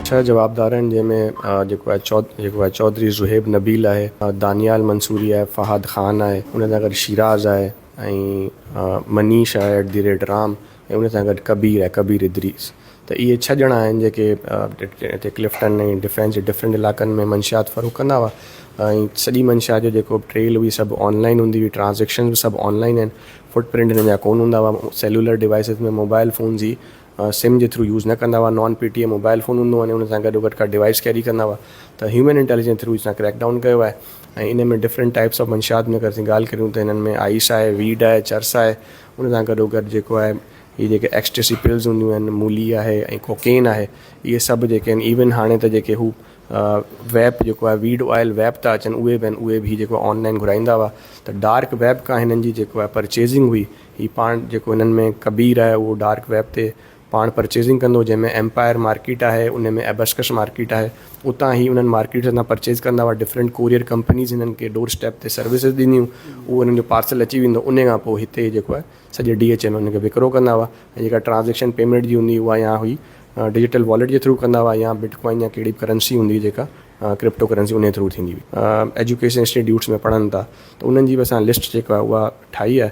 ڇهه جوابدار آهن جنهن ۾ جيڪو آهي جيڪو آهي چوڌري زهيب نبيل آهي دانيال منصوري آهي فهد خان آهي ان سان گڏ شيراز آهي ۽ منيش آهي ايٽ دي ريٽ رام ۽ ان سان گڏ ڪبير ۽ ڪبير ادريس ته اهي ڇهه ڄڻا آهن جيڪي هتي ڪلفٽن ۽ ڊفينس جي ڊفرنٽ علائقن ۾ منشيات فروغ ڪندا هئا ۽ سڄي منشيات جو جيڪو ٽريل هئي سڀ آنلائن هوندي هئي ٽرانزيڪشنز به سڀ آنلائن آهن فوٽ پرنٽ هنن جا ڪون هوندا هئا سيلولر ڊوائسز ۾ موبائل فونز جي سم جي ٿرو يوز نه ڪندا هئا non P T A mobile phone هوندو هو ان سان گڏو گڏ ڪا ڊوائس ڪيري ڪندا هئا ته هيومن انٽيليجنس ٿرو اسان ڪريڪ ڊائون ڪيو آهي ۽ ان ۾ ڊفرنٽ ٽائپس آف منشيات ۾ اگر اسين ڳالهه ڪريون ته هنن ۾ آئيس آهي ويڊ آهي چرس آهي ان سان گڏو گڏ جيڪو آهي هي جيڪي ايڪسٽيسي پلز هونديون آهن مولي آهي ۽ ڪوڪين آهي اهي سڀ جيڪي آهن ايون هاڻي ته جيڪي هو ويپ جيڪو آهي ويڊ آئل ويپ ٿا اچن اهي به آهن اهي به هي جيڪو آنلائن گهرائيندا هئا ته ڊارڪ ويپ کان هنن جي جيڪو آهي پرچيزنگ هئي هي پاڻ جيڪو هنن ۾ ڪبير آهي اهو ڊارڪ ويپ تي پاڻ پرچيزنگ ڪندو جنهن ۾ ايمپائر مارڪيٽ آهي ان ۾ ابسڪس مارڪيٽ آهي اتان هي انهن مارڪيٽس هتان پرچيز ڪندا هئا ڊفرنٽ ڪوريئر ڪمپنيز هنن کي ڊور اسٽيپ تي سروسز ڏنيون اهو هنن جو پارسل اچي ويندو انهي کان پوء هتي جيڪو آهي سڄي ڊي ايچ اين انهن کي وڪرو ڪندا هئا ۽ جيڪا ٽرانزيڪشن پيمنٽ جي هوندي اها يا هئي ڊجيٽل واليٽ جي ٿرو ڪندا هئا يا بٽ ڪوائن يا ڪهڙي به ڪرنسي هوندي هئي جيڪا ڪرپٽو ڪرنسي انهي ٿرو ٿيندي هئي ايجوڪيشن انسٽيٽيوٽس ۾ پڙهن ٿا ته انهن جي به اسان لسٽ جيڪا اها ٺاهي آهي